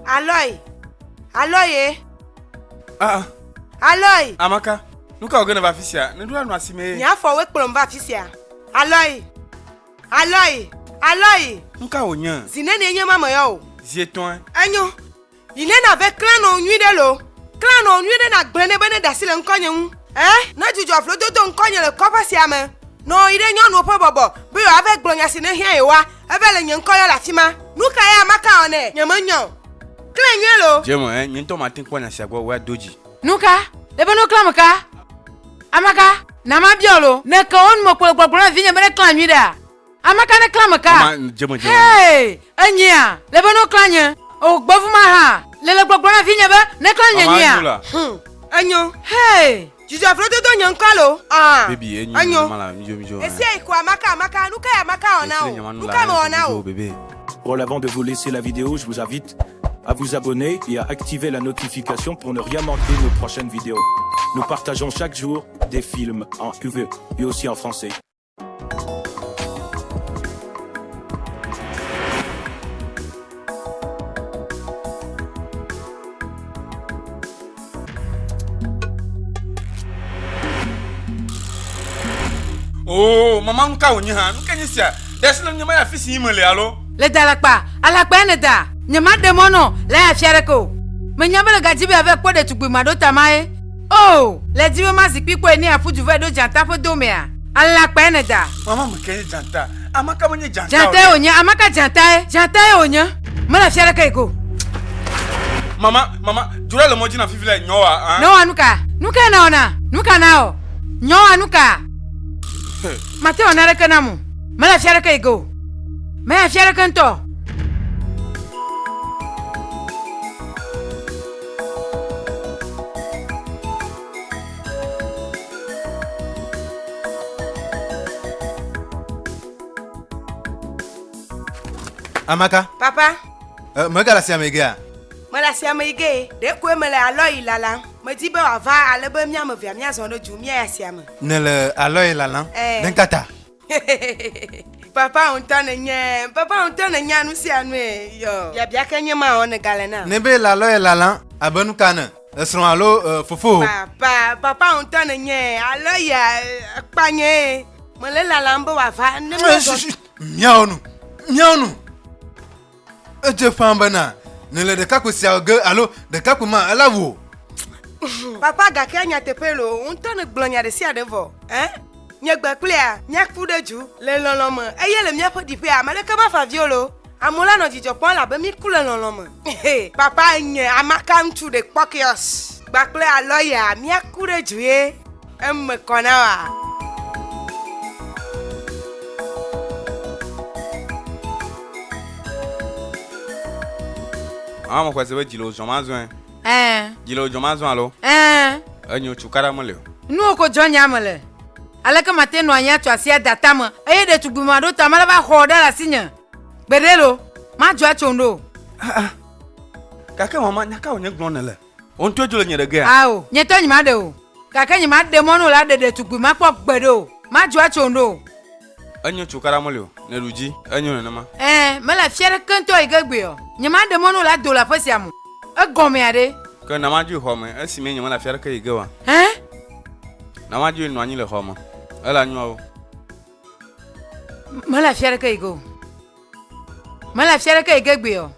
Aloi! Aloi ye! Ah! Aloi! Amaka, nu ka wòge nèva afi sia? Nèɖo anɔ asi mee. Nye afɔwoe kplɔm va afi sia. Aloi! Aloi! Aloi! Nu ka wònye? Zi nenie nye ma meyɔ o. Zi etɔ̃e. Enyo. Yi ne na be klã nɔ nyui ɖe lo. Klã nɔ nyui ɖe na gblẽ ne be ne ɖasi le ŋkɔ nye ŋu. Ɛ ne dzudzɔ vlo dodo ŋkɔ nye le kɔƒe sia me. Nɔ yi ɖe nyɔnuwo ƒe bɔbɔ be yewoa ve gblɔ nya si ne hiã yewoa eve le nye ŋkɔ yɔ le afi ma. Nu ka ye ame ka wɔ nɛ? Nye me nya o. Klẽ nyuie lo. Dze me ɛ nye ŋutɔ ma te kpɔ nya sia gbɔ woa do dzi. Nu ka ye be no klã me ka? Ame ka na ma biɔ lo. Ne ke wo nu me kpo le gbɔgblɔ na vinye be ne klã nyui ɖe a? Ame ka ne klã me ka? Mama, dze me dze me. Hee, enyea? Le be no klã nye. O, gbe fu ma ha. Le le gbɔgblɔ na vinye be ne klã nye nyea? Mama, enyo la. Hm. Enyo. Hee. Dzudzɔ afro dodo nye ŋkɔ alo? Aa. Baby, enyo. Enyo. Mama la, mjo mjo. Esia yi ko amaka amaka, nu ka ya amaka ɔ na o? Nu ka me ɔ na o? Bébé. Voilà avant de vous laisser la vidéo je vous invite à vous abonner et à activer la notification pour ne rien manquer nos prochaines vidéos nous partageons chaque jour des films en UV et aussi en français. Oh, maman ka wònye hã nu ke nye sia ɖe asi le nye maya fi si yi mele alo le da alakpa alakpa ene da nyemaɖe mɔ nɔ le afia ɖeke o menya be le gadi be ave kpɔ ɖetugbui maɖo ta mae O! Le dzive ma zikpui kpɔe ne aƒu dzuve ɖo dzata ƒe do mea? Alã kpae ne da. Mama me ke nye dzata? Ame ka me nye dzata? Dzatae wònye. Ame ka dzatae? Dzatae wònye. Mele fia ɖeke yi ke o. Mama, mama, dzroa le mɔ dzi na fifi le nyɔwa a. Nɔwa nuka? Nukae nawɔna? Nuka nawɔ? Nyɔwa nuka? He. Mate wɔ naneke nam o. Mele fia ɖeke yi ke o. Mele fia ɖeke ŋutɔ. Amaka. Papa. Uh, eh, mega le asiame gea? Mele asiame yi ge. Ɖeko mele alɔyi lalam. Medi be wòava ale be míame vea míazɔ ɖe du míayi asiame. Nèle alɔyi lalam? Ɛɛ. Eh. Ɖe ka ta? Papa ŋutɔ nenye, papa ŋutɔ nenya nu sia nue. Yɔ. Biabia ke nye ma ɔ negale na. Ne be lalɔ ye lala abe nu ka ne esrɔ alo fofo. Papa, papa ŋutɔ nenye, alɔ ya kpanye. Mele lalam be wava ne me. Miawo nu, miawo nu. Edze ƒã bena nèle ɖekakpui sia ge alo ɖekakpui ma elé wò. Papa, gake nyateƒee loo, wò ŋutɔ nègblɔ nya ɖe sia ɖe vɔ. Ẽ? Nye gbe kplia míaku ɖe dzu le lɔlɔ̃ me, eye le míaƒe ɖiƒea ame aɖeke mafa avi o loo. Amewo la nɔ dzidzɔ kpɔm elabe míku le lɔlɔ̃ me. Papa, enye amaka ŋutsu ɖekpɔkɔeɔs gbakple alɔya míaku ɖe dzu ye. Eme kɔ na wa. Mama mo kwese be dzi le wò zɔma zɔe. Ɛɛ. Dzi le wò zɔma zɔe alo? Ɛɛ. Enyo tsu kaɖa mele o. Nuwo ko dzɔ nya me le. Aleke mate nɔ anyi atso asi ada tame eye ɖetugbui maɖo ta mele va xɔ ɖe le asinye? Gbeɖe lo, madzɔ atso ŋɖo o. Aa. Gake mama, nya ka wònye gblɔm nèle? Wò ŋutɔe dzo le nye ɖe gea? Ao, nye tɔ nyemaɖe o. Gake nyemaɖe mɔ no la ɖe ɖetugbui makpɔ gbeɖe o. Madzɔ atso ŋɖe o. Enyo tso kara meli o, ne ɖu dzi, enyo nenema. Ẽ, mele afi aɖeke ŋutɔ yi ke egbea o. Nyemaɖe mɔ no la do le aƒe sia me o. Egɔmea ɖe? Ke na madzoe xɔ me, esimee nyemele afi aɖeke yi ge oa? Ẽ? Na madzoe nɔ anyi le xɔ me, ela nyoa wo. Mele afi aɖeke yi ge o. Mele fia ɖeke yi gegbe o.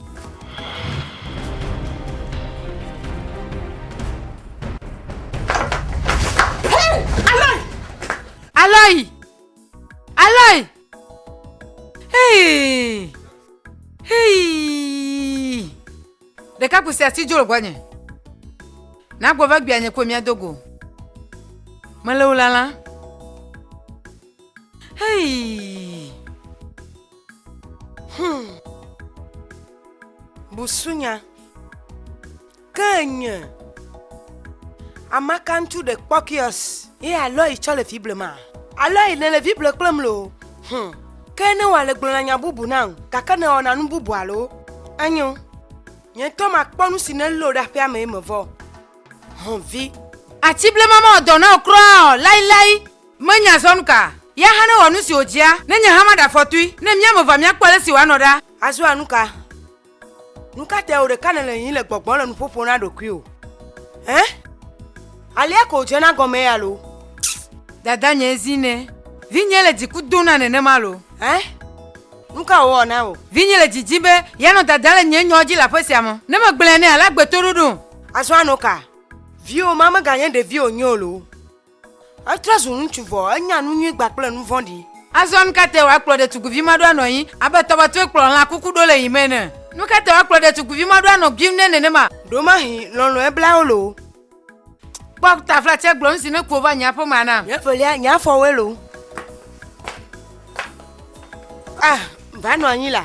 Aloy! Aloy! Hey! Hey! Ɖeka kusi ati dzro gbɔnye. Nagbɔ va gbia nye ko mia dogo. Mele wo lala. Hei! Hum. Busunya. Ke nye. Amaka ŋutsu ɖe kpɔkiɔs. Ye alɔ yi tsɔ le fi blema. Alɔ yi ne le fi ble kple mlo. Hum. Ke ne wale gblɔna nya bubu na ŋu, gake ne wɔna nu bubu alo. Enyo. Nye ŋutɔ makpɔ nu si ne lo ɖe aƒea me ye mevɔ. Hum vi. Ati blema mawɔ dɔ na wò kura o, lailai. Menya zɔ nuka. Ya hã newɔ nusi wòdzia, ne nye hã maɖe afɔtui, ne mía me evea míakpɔ alesi wòanɔ ɖa. Azɔa nuka? Nuka tae wò ɖeka nèle yiyim le gbɔgbɔ le nuƒo ƒom na ɖokuiwò? Ẽ? Alea koe wòdzena gɔmee alo? Dadanyee zi nɛ. Vinyee le dziku dom na nenema alo? Ẽ? Nuka wòwɔ na wò? Vinye le dzi dim be yeanɔ dada le nye nyawo dzi le aƒe sia me. Ne megblɔe nɛ alé agbetoɖoɖom. Azɔa nuka? Viwò ma meganye ɖevi wònye o loo. Etrɔ zu ŋutsu vɔ, enya nu nyui gba kple nu vɔ̃ɖi. Azɔ nu ka tae woakplɔ ɖetugbivi ma ɖo anɔ anyi abe tɔbɔtɔe kplɔa lã kuku ɖo le yi me ene? Nu ka tae woakplɔ ɖetugbivi ma ɖo anɔ guim nɛ nenema? Ɖo mahi lɔlɔ̃e bla wo loo. Kpɔ taflatsia gblɔ nu si ne ku wova nye aƒe mea nam. Nye ƒelia, nye afɔwoe loo. Ah, va nɔ anyi la.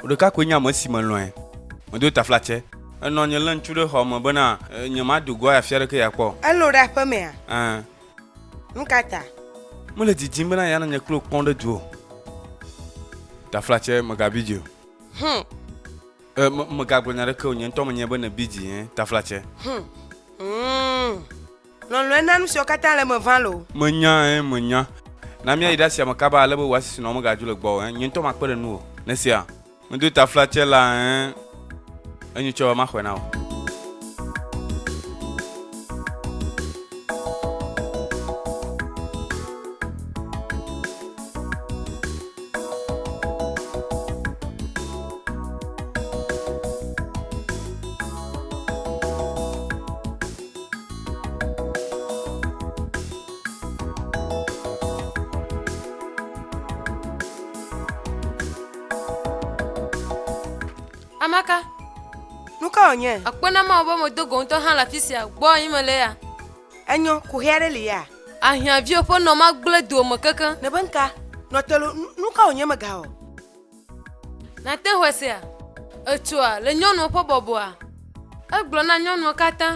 Wò ɖeka koe nye ame si melɔ̃e. Medo taflatse. Enɔ nye le ŋutsu ɖe xɔ me bena nyemado goa afia aɖeke yeakpɔ o. Elo ɖe aƒe mea? Ɛ̃. Nu ka ta? Mele didim bena yeanɔ nye kple wò kpɔm ɖe du o. Taflatse, Mègabi dzi o. Hum. Ɛ̃, me, megagblɔ nya aɖeke o. Nye ŋutɔ menyae be nèbi dzi ɛ̃. Taflatse. Hum. Hum. Lɔlɔ̃e na nusiawo katã le eme ʋã loo. Menya ɛɛ menya. Na míayi ɖe asia me kaba ale be wò asisinɔwo megadzo le gbɔwò ɛɛ. Nye ŋutɔ makpe ɖe nuwò ne esia. Medo taflatse la ɛɛ. Enyo tsɔ be maxɔe na wò. Amaka. Nu ka wònye? Akpɔ na Mawu be medo go ŋutɔ hã le afi sia. Gbɔ anyi mele ya. Enyɔ, kuxi aɖe li ya. Ahiãviwo ƒe nɔ magblẽ doa me kekeŋ. Nèbe ŋka, nɔ te lo, nu ka wònye megawɔ? Nàte ŋu asea? Ètsoa le nyɔnua ƒe bɔbɔa? Egblɔ na nyɔnua katã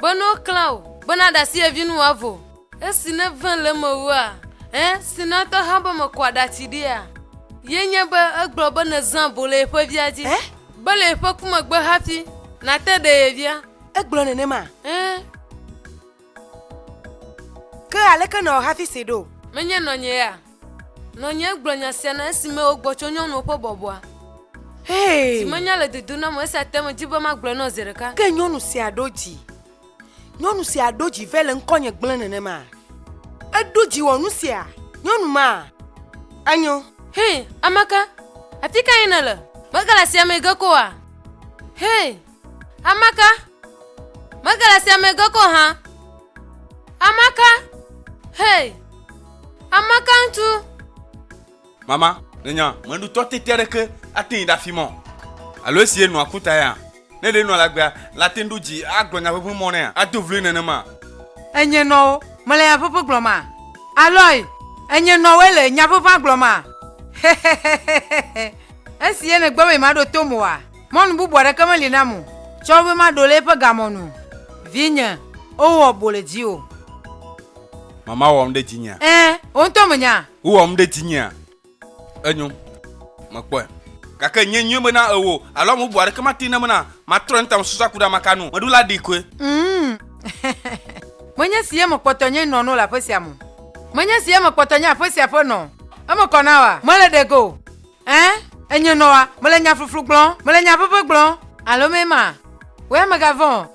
be ne woklã wò be nàɖe asi ye vi nu wòavo. Esi nève le eme wua? Ẽ, si nètɔ hã be mekɔa ɖati ɖia? Ye nye be egblɔ be nèzã abo le yeƒe via dzi. Ẽ? Be le yeƒe ku megbe hafi nàte ɖe ye via. Egblɔ nenemaa? Ẽ. Ke aleke nèwɔ hafi see ɖo? Menye nɔnye ya. Nɔnyee gblɔ nya sia na esime wogbɔ tso nyɔnuwo ƒe bɔbɔa. Hey! Zi menya le dodom nam o, esia te medi be magblɔe na wò zi ɖeka. Ke nyɔnu sia ɖo dzi. Nyɔnu sia ɖo dzi vɛ le ŋkɔnye gblẽ nenema. Eɖo dzi wɔ nu sia. Nyɔnu ma, enyo. Hey! Ameka? Afikae nèle? Megale asiamee ge ko oa? Hey! Amaka, mege le sia me ge ko hã. Amaka, hei, amaka ŋutsu. Mama, nènya, meɖutɔ tete aɖeke ate ŋu ɖe afi mɔ. Alo esie nɔa ku ta ya. Ne ɖe nɔa lagbea, la ate ŋu ɖo dzi agblɔ nya ʋeʋẽ mɔ nɛa? Ado vloe nenema? Enye nɔwo mele nya ʋeʋẽ gblɔ ma. Aloy, enye nɔwoe le nya ʋeʋã gblɔ ma. Hehehehehe, esie nègbe be nyemaɖo tom oa? Mɔnu bubu aɖeke meli nam o, tsɔ wo be maɖo le eƒe gamɔ nu o. Vinye, o wɔ bo le dziwò. Mama wɔm ɖe dzinyea? Ẽ, wò ŋutɔ mènya? Wo wɔm ɖe dzinyea? Enyo, mekpɔe. Gake nye nyoe be na ewò, alo ame bubu aɖeke mate ŋu nam be na matrɔe ŋuta mesusua ku ɖe ame ka nu. Meɖo la ɖi koe. Ŋm, menye si ye mekpɔtɔ nye nɔ no le aƒe sia me o. Menye si ye mekpɔtɔ nye aƒe sia ƒe nɔ o. Eme kɔ na wòa? Mele ɖe ge o. Ẽ, enyo nɔ wa, mele nya fluflu gblɔm, mele nya ʋeʋẽ gblɔm. Alo mee ma? Wea megavɔ̃ o.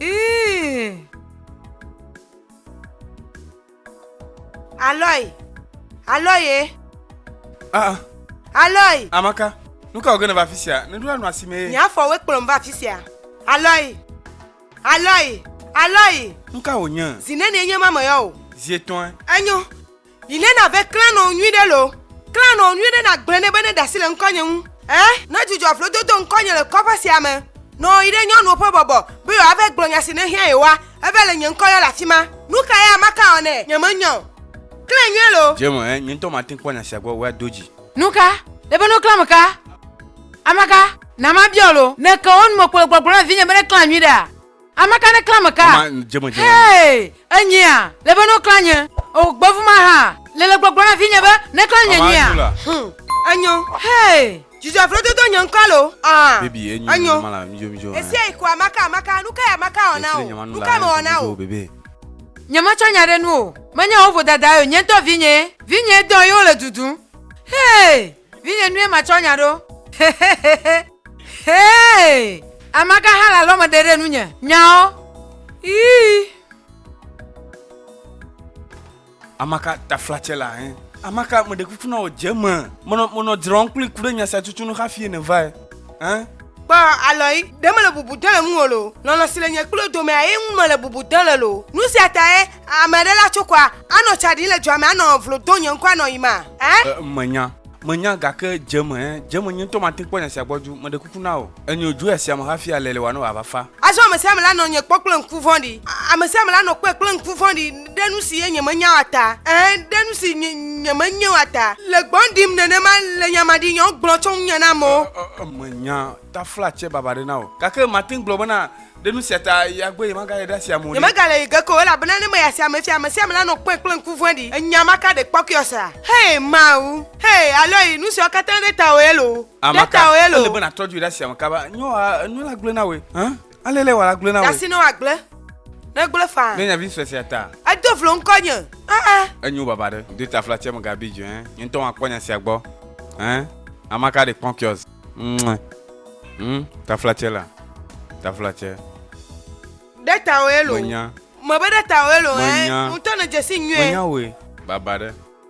Ii. Aloi, Aloi ye. Ah, ah. Aloi. Amaka, nu ka wòge nèva afi sia? Nèɖoa nu asi mee. Nye afɔwoe kplɔm va afi sia. Aloi, Aloi, Aloi. Nu ka wònye? Zi nenie nye ma meyɔ wò. Zi etɔ̃e. Enyo. Yi ne na ve klã nɔ nyui ɖe lo, klã nɔ nyui ɖe na gblẽ ne be ne ɖasi le ŋkɔ nye ŋu. Ɛ, ne dzudzɔ vlo dodo ŋkɔ nye le kɔƒe sia me, nɔ yi ɖe nyɔnuwo ƒe bɔbɔ be yewoa ve gblɔ nya si ne hiã yewoa, eve le nye ŋkɔ yɔ le afi ma. Nu ka ya maka wɔ nɛ? Nye me nyɔ o. Klẽ nyuie lo. Dze me, ɛ, nye ŋutɔ ma te kpɔ nya sia gbɔ woa do dzi. Nu ka? Le be no klã me ka? Ame ka? Na ma biɔ lo. Ne ke wo nu me kpo le gbɔgblɔ na vinye be ne klã nyui ɖea, Ame ka ne klã me ka? Mama, dze me dze me. Hee, enyea? Le be no klã nye. O, gbe fu ma ha. Le le gbɔgblɔ na vi nye be ne klã nye nyea. Mama, enyo la. Hm, enyo. Hee, dzudzɔ vlo dodo nye ŋkɔ lo. Aa, baby, enyo. Enyo. Mama la, mijo mijo. Esia yi ko amaka amaka, nu ka ya amaka wɔ na o? Nu ka me wɔ na o? Bebe. Nye me tsɔ nya ɖe nu o. Menye wo vodada yo, nye ŋutɔ vi nye. Vi nye dɔn ye wo le dudum. Hee. Vinye nue ma tsɔ nya ɖo. Hehehehe. Hee! Ame ka hã le alɔme ɖe ɖe nunye? Nyawo. Ii. Ame ka taflatse le ahe? Ame ka meɖe kuku na wò dze me? Menɔ, menɔ dzrɔm kpli ku ɖe nya sia tutu nu hafi ne vae. Ẽ? Kpɔ alɔe, ɖe mele bubu dem le ŋuwò loo, lɔlɔ̃ si le nye kple wò domea ye ŋu mele bubu dem le loo. Nu sia tae ame aɖe la tso kɔa, anɔ tsa ɖim le dua me anɔ vlo dom nye ŋkɔ anɔ yim a? Ẽ? Ẽ, menya, menya, gake dze me, ẽ, dze me, nye ŋutɔ mate ŋu kpɔ nya sia gbɔ dzi o. Meɖe kuku na wò, enyo wòdzo yi asia me hafi alé le wò anɔ wòava fa. Azɔ ame sia ame la nɔ nye kpɔ kple ŋku vɔ̃ɖi, ame sia ame la nɔ kpɔe kple ŋku vɔ̃ɖi. ɖe nu si ye nyemenya la ta, ɛ̃, ɖe nu si nye, nyemenye la ta. Le gbɔ̃ ɖim nenema le nya maɖinyɔ gblɔ tso ŋunye na amewo. Ɔ, ɔ, ɔ, menya taflatse baba ɖe na wò. Gake mate ŋu gblɔ bena, ɖe nu sia ta ya gbe yemagayi ɖe asi amewo ɖe. Nyemegale yi ge ke o, elabena ne meyi asi ame sia ame, sia ame lanɔ kpɔe kple ŋku vɔ̃ɖi. Enya ma ka ɖekpɔkuyɔ sea? Hee, Mawu! Hee, alɔyi! Nu siawo katã ɖe tawòe loo. Ɖe tawòe loo. Ele be nàtrɔ dzoe ɖe asi ame kaba. Nyɔa, enu la gblɔe na wòe. Hã? Ale le wala gblẽ na wò. Dasi ne wa gblẽ. Ne gblẽ faa. Ne nyavi sue sia ta. Edo vlo ŋkɔ nye. Aa. Enyo baba ɖe. Do ta fla tsɛm gabi djo ɛn. Nye ŋutɔ wa kpɔ nya sia gbɔ. Ɛn. Amaka ɖe kpɔn kiɔs. Mwe. Hm. Ta fla tsɛ la. Ta fla tsɛ. Ɖe ta wɔ elo. Menya. Mebe ɖe ta wɔ elo ɛn. Menya. Ŋutɔ ne dzesi nyuie. Menya wɔ. Baba ɖe.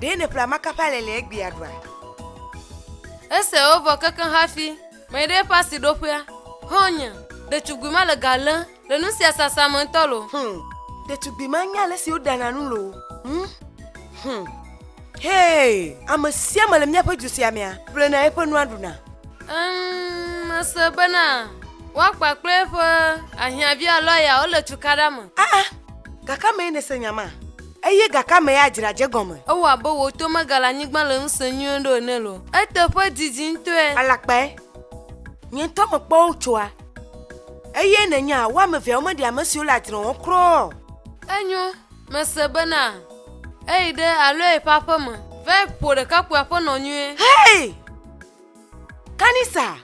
ɖe nèƒle amaka ƒe alɛ le egbea ɖua ese wovɔ kekeŋ hafi mɛɖe ƒe asiɖoƒea hɔnye ɖetugbui ma le ga lém Le nu sia sasa me ŋutɔ lo. Hum. Ɖetugbui ma nya ale si woɖana nu lo. Hum. Hum. Hey, ame sia ame le míaƒe du sia mea ƒlena eƒe nua ɖuna. Emm, mese bena woakpa kple eƒe ahiãvi alo aya wole tukaɖa me. Ah ah, gake amee nèse nya ma? Eye gake amee adzra dze gɔme. Ewɔ abe wò to megale anyigba le ŋusẽ nyuie ɖo ene lo. Eteƒe didi ŋutɔe. Alakpae. Nye ŋutɔ mekpɔ wo tsoa. Eye nènya wo ame eveawo meɖi ame siwo le adzre wɔm kura o. Enyo, mese bena eyi ɖe Aloy ƒe aƒe me va ƒo ɖekakpuia ƒe nɔ nyuie. Hei! Kanisa,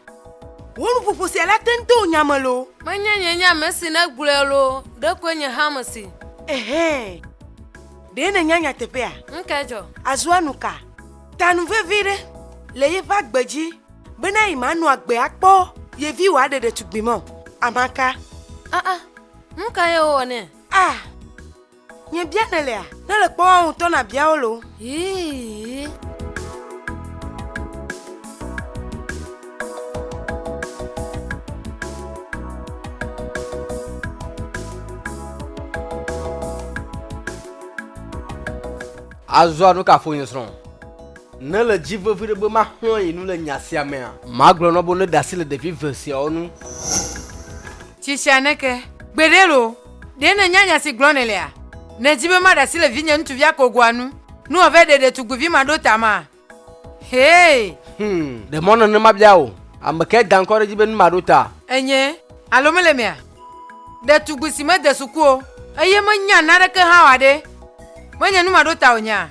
wò nuƒoƒo sia la te ŋu to wò nya me loo? Menye nye nye ame si nègblɔe loo, ɖekoe nye hã mesi. Ehɛ! Ɖe nènya nyateƒea? Ŋkedzɔ. Azua nuka? Ta nu vevi ɖe le yeƒe agbe dzi. Bena yi manɔ agbe akpɔ ye vi wòaɖe ɖetugbui mɔ. Amaka. Aa, ah, ah. nu ka ye wowɔ nɛ? A, ah, nye bia nèlea? Ne le kpɔ woawo ŋutɔ nabia wo lo. Yii. Azɔ nu ka ƒo nye srɔ̃? Nèle dzi vevi ɖe be maxlɔ̃ yi nu le nya sia mea? Magblɔ na wo be woneɖe asi le ɖevi eve siawo ŋu. Tsi tsia ne ke. Gbeɖe loo! Ɖe nènya nya si gblɔm nèlea? Nèdi be maɖe asi le vinye ŋutsuvia kogoa ŋu ne wòava ɖe ɖetugbuivi maɖotamaa? Hee! Hum, ɖe mɔ nane mabia wò. Ame kae da ŋkɔ ɖe edzi be nu maɖota? Enye, alo mele emea? Ɖetugbui si mede suku o eye menya naneke hã o aɖee menye nu maɖota wònyea?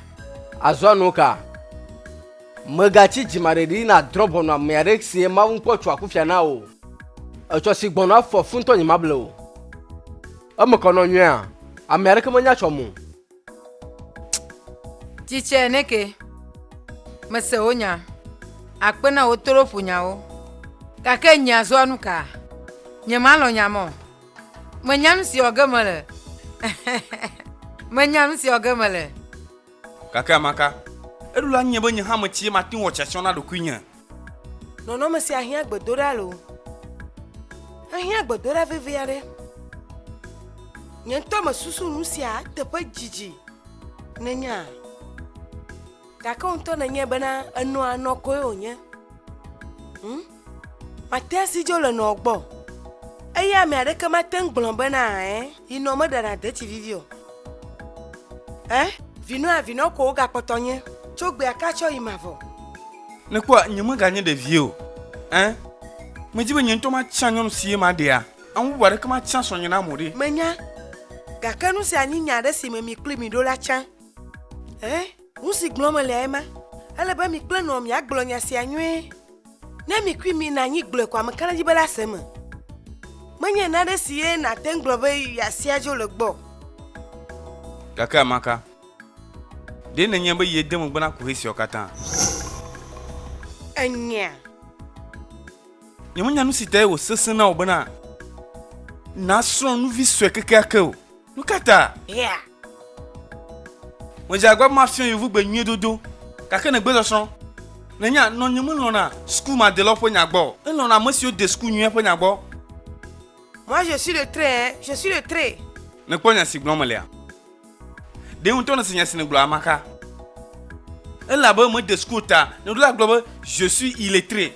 Azɔ nuka? Mègatsi dzimaɖeɖi nàdrɔ̃ ʋɔnu amea ɖe sie Mawu ŋkpɔ tsoa kufia na o. Etsɔ si gbɔna afɔ fu ŋutɔ nyemable o. Eme kɔ nɔ nyuia? Ame aɖeke menya tsɔ mo. Tsi tsɛ ne ke. Mese wò nya. Akpe na wò toloƒonyawo. Gake nye azɔa nuka? Nyemalɔ̃ nya mɔ. Menya nu si wɔ ge mele. Menya nu si wɔ ge mele. Gake amaka, eɖo la ŋunye be nye hã metsi ye mate ŋu wɔ tsyatsɔ na ɖokuinye. Nɔnɔme sia hiã gbedoɖa loo. Ehiã gbedoɖa vevi aɖe. Nye ŋutɔ mesusu nu sia eteƒe dzidzi nènya. Gake wò ŋutɔ nènyae bena enɔa nɔ koe wònye. Hm? Matea si dzo le nɔ gbɔ. Eye ame aɖeke mate ŋu gblɔ bena ɛ yi nɔ meɖana deti vivi o. Ɛ vinɔ avinɔ ko wogakpɔtɔ nye tso gbea ka tsɔ yi mavɔ. Nèkpɔa nyemeganye ɖevie o. Ɛ medi be nye ŋutɔ matia nyɔnu si ye maɖea. Ame bubu aɖeke matia srɔ̃nye nam o ɖe. Menya, gake nu sia nyi nya aɖe si me mi kloe miɖo la tsã. Ɛ Nu si gblɔm mele lae ma, ele be mi kple nɔwò miagblɔ nya sia nyuie. Ne mi kui mina anyi gblɔe ko ame ka nedzi be lase eme? Menye nane si ye nàte ŋu gblɔ be yeasia dzo le gbɔ o. Gake ame ka? Ɖe nènyae be yede megbe na kuxi siawo katã? Enyea? Nyemenya nu si tae wòsesẽ na wò bena nàsrɔ̃ nu vi sue kekeake o. Nu ka ta? Yeah. Medze agba be mafia yevugbe nyuie dodo, gake nègbe sɔsrɔ̃. Nènya, nɔnye melɔ̃na suku madelɔ ƒe nya gbɔ o, elɔ̃na ame siwo de suku nyuie ƒe nya gbɔ. Moi, je suis le trait, hein, je suis le trait. Nèkpɔ nya si gblɔm melea? Ɖe wò ŋutɔ nèse nya si nègblɔ amaka? Elabe mede suku o ta, nèɖo la gblɔ be, Je suis illettré.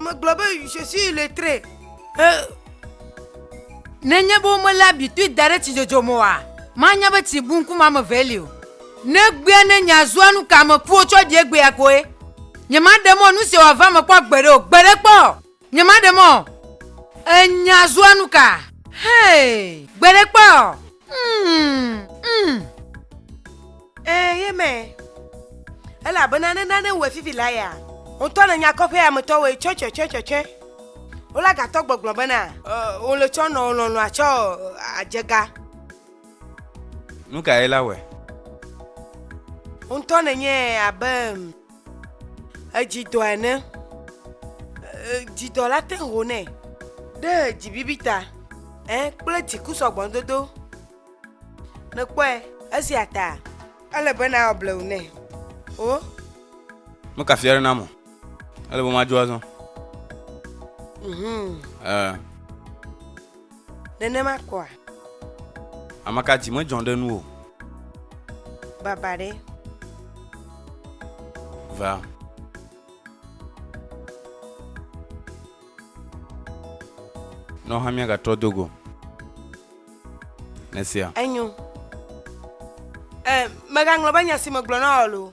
Megblɔ be, Je suis illettré. Ẽ. Nenye be womelé abitui da ɖe tsidzodzo me oa, manya be tsi bu ŋkume ame evee li o. Ne egbea nenye azua nu ka ame ƒuwo tsɔ ɖi egbea koe. Nyemaɖe mɔ nu sia wòava eme kpɔ gbeɖe o, gbeɖe kpɔ! Nyemaɖe mɔ. Enya azua nu ka? Hee, gbeɖe kpɔ! Mm, mm. Ee, ye me. Elabena ne nane wɔ fifi la ya. Ŋutɔ le nyakɔƒe ametɔ wɔ tsɔ tsɔ tsɔ tsɔ tsɔ. Wola gatɔ gbɔgblɔ bena. Wole tsɔ nɔ lɔlɔa tsɔ adzega. Nu ka ye la wɛ? Ŋutɔ nenye abe. edzidɔ ene. E, dzidɔ la te ho nɛ ɖe dzibibi ta ɛ kple dziku sɔgbɔdodo. Nèkpɔe esia ta ele be nawɔ blewu nɛ. O. Meka fia ɖe nam o. Ele be madzo azɔ. Mhm. Ɛ. Nenema kɔa? Ameka dzi medzɔ ɖe nuwò? Baba ɖe. Va. Nɔ hã míagatrɔ do go. Nesia. Enyo. Ɛ, mègaŋlɔ be nya si megblɔ na wò loo.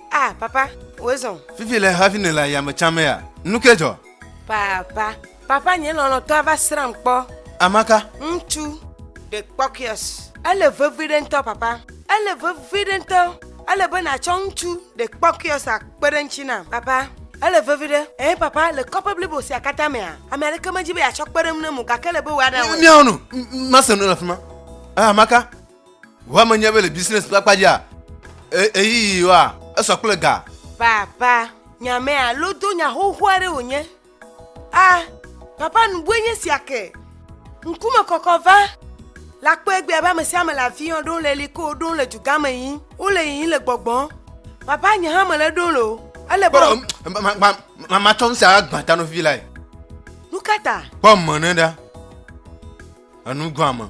Ah, papa, wòe zɔ. Fifi le hafi ne le ayame tsã me ya. Nu ke dzɔ? Papa, papa nye lɔlɔtɔa va srãm kpɔ. Amaka. Ŋutsu. De kpɔkiɔs. Ele vevi ɖe ŋutɔ, papa. Ele vevi ɖe ŋutɔ. Ele be nàtsɔ ŋutsu de kpɔkiɔs akpe ɖe ŋutsi nam, papa. Ele vevi ɖe. Eh, papa, le kɔƒe blibo sia katã mea, ame aɖeke medzi be yeatsɔ kpe ɖe ŋu nam o, gake ele be wòaɖe awɔe. Miawo nu, mase nu le afima. Eh, Amaka. Ʋua menye be le business ƒe akpa dzia, ɣeyiɣi wa esɔ kple ga. Papa, nyame alo do nya xoxo aɖe wònye. A, papa nubue nye sia ke. Ŋkume kɔkɔ va. La kpɔe gbɛ abe ame sia ame le afi yɔ ɖo le li ko ɖo le dugã me yí wole yiyi le gbɔgbɔ. Papa nye hã mele ɖo le o. Ele bɔ. Matsɔ nu sia agbã ta nɔvi lae. Nu ka ta? Kpɔ me ne ɖa. Enu gbã me.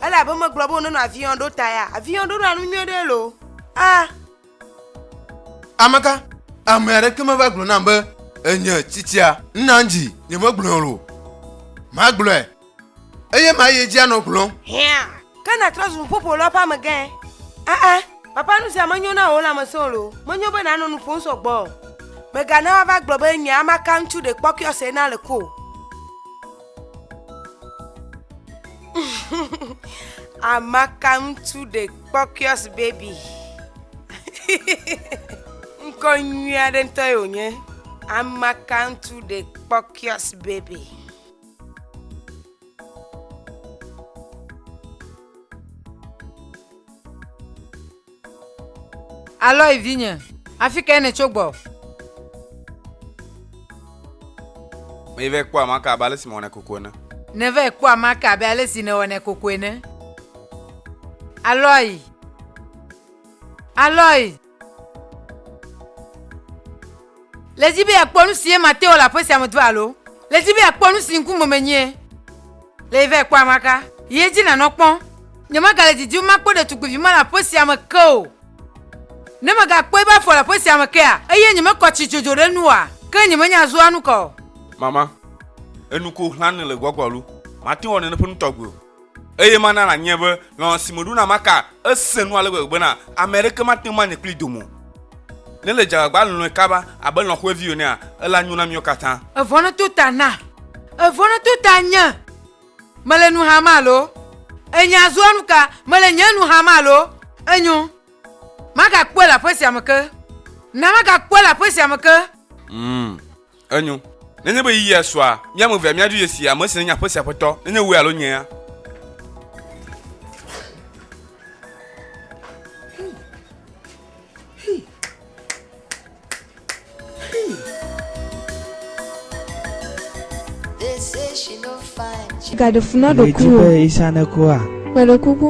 elabe megblɔ be wonenɔ avion ɖo ta ya avion ɖo ɖa nu nyuie ɖe lo a ameka ame aɖeke meva gblɔ nam be enye tsitsia nna dzi nyemegblɔe o magblɔe eye mayi edzi anɔ gblɔ hɛa ke natrɔ zu ƒoƒo lɔ ƒe amegã aa papa nu sia menyo na wò lãmesẽ o lo menyo be nanɔ nu ƒom sɔgbɔ o megana woava gblɔ be nye amaka ŋutsu ɖe kpɔkɔe ɔsena le ko Amaka ŋutsu ɖe kpɔkiɔs baby. Ŋkɔ nyui aɖe ŋutɔ ye wònye. Amaka ŋutsu ɖe kpɔkiɔs baby. Aloy vinye, afi kae nètso gbɔ? Meyi vɛ kpɔ amea ke abe ale si mewɔnɛ koko ene. Nèvɛ kpɔ amea ke abe ale si nèwɔnɛ koko ene. Aloy! Aloy! Le edzi be yeakpɔ nu si ye mate wɔ le aƒe sia me do alo le edzi be yeakpɔ nu si ŋkume menyie le yi va ekpɔ amaka yi edzi nanɔ kpɔ. Nyemagale didim makpɔ ɖetugbivi ma le aƒe sia me ke o. Ne megakpɔe be afɔ le aƒe sia me kea, eye nyemekɔ tsi dzodzo ɖe enu oa, ke nyemenya zua nu ka o. Mama, Enu ko hlãne le gbɔgbɔ alo mate wɔ nene ƒe nu tɔgbe o. Eye mana nànyie be lɔlɔ̃ si meɖo na Maka esẽ nu ale gbegbe bena ame aɖeke mate ŋu anye kplii dome o. Ne èle dze agbagba lɔ̃e kaba abe lɔ̃ xɔ̃evi enea, elã nyo na míawo katã. Èvɔ̃ nèto ta na? Èvɔ̃ nèto ta nye? Mele nu xam alo? Enye azɔa nu ka? Mele nye nu xam alo? Enyo. Magakpɔe le aƒe sia me ke. Na magakpɔe le aƒe sia me ke. Ŋ! Enyo. Nenye be yiyia sua, mía ame evea míaɖo ye si, ame si nenye aƒe sia aƒetɔ, nenye wòe alo nyea. Gaɖe fu na ɖokuiwò. Èdi be Isa nekua? Meɖe kuku.